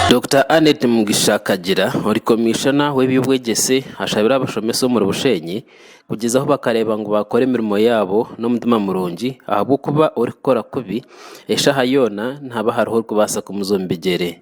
Dokita Annet Mugisha Kagira ori komishona w'eby'obwegyese ashabire abashomesa omuri Bushenyi kugyezaho bakareeba ngu bakora emirimo yaabo n'omutima murungi ahabw'okuba orikukora kubi eshaaha yoona nihaba hariho orikubaasa kumuza omu bigyere.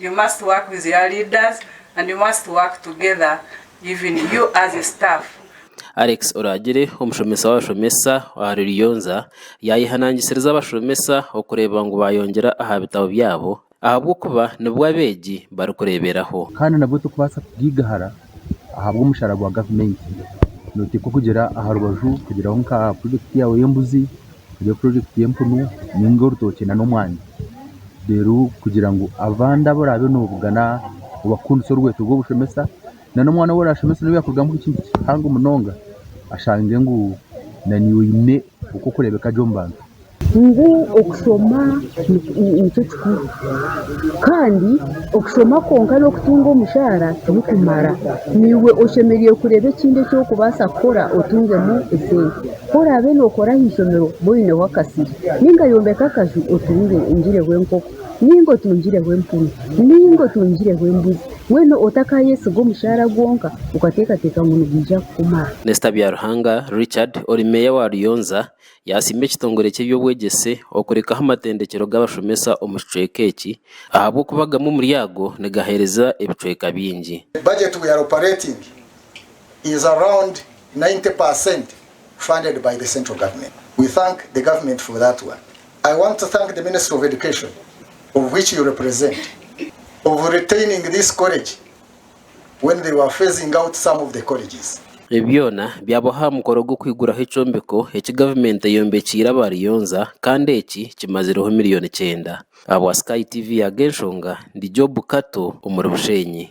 You must work with your leaders and you must work together even you as a staff. Alex Oragire, omushomesa w'abashomesa aha Ruriyonza, yaayehanangisiriza abashomesa okureeba ngu baayongyera aha bitabo byabo ahabw'okuba nibwo abeegi barikureeberaho. Kandi nabwo tokubaasa kugaiga hara. ahabw'omushaara gwa gavumenti noteekwa kugira aharubaju kugiraho nka purojekiti yaawe y'embuzi, ogireho purojekiti y'empunu nainga orutookye n'omwani reero kugira ngu abandi abu oraabe nobugana obakundise orweeto rw'obushomesa n'omwana ou orashomese nawe yaakurugamu ekintu kihango munonga ashange ngu naiwe oine oku orikureebeka gye omu bantu. Ngu okushoma nikyo kikuru kandi okushoma kwonka n'okutunga omushaara tirikumara. Naiwe oshemereire kureeba ekindi eki orikubaasa kukora otungemu esente. Ku oraabe nookora aha ishomero obe oineho akasiri nainga yombeka akaju otungireho enkoko nainga otungireho empunu nainga otungireho embuzi mbwenu otakaayesiga omushaara gwonka okateekateeka ngu nigwija kukumara. Minisita Byaruhanga Richard ori meeya wa Ruyonza Yaasiima ekitongore ky'eby'obwegyese okurekaho amatendekyero g'abashomesa omu kicweka eki ahabw'okuba gamwe omuri ago nigaheereza ebicweka bingi. The budget we are operating is around ninety per cent funded by the central government. We thank the government for that one. I want to thank the Ministry of Education of which you represent of retaining this college. when they were phasing out some of the colleges. Ebi byona byabaho aha mukoro gw'okwiguraho ekyombeko eki gavumenti eyombekiire abariyonza kandi eki kimazireho miriyoni kyenda. Ahabwa Sky TV Agenshonga, ndi Job Kato omuri Bushenyi.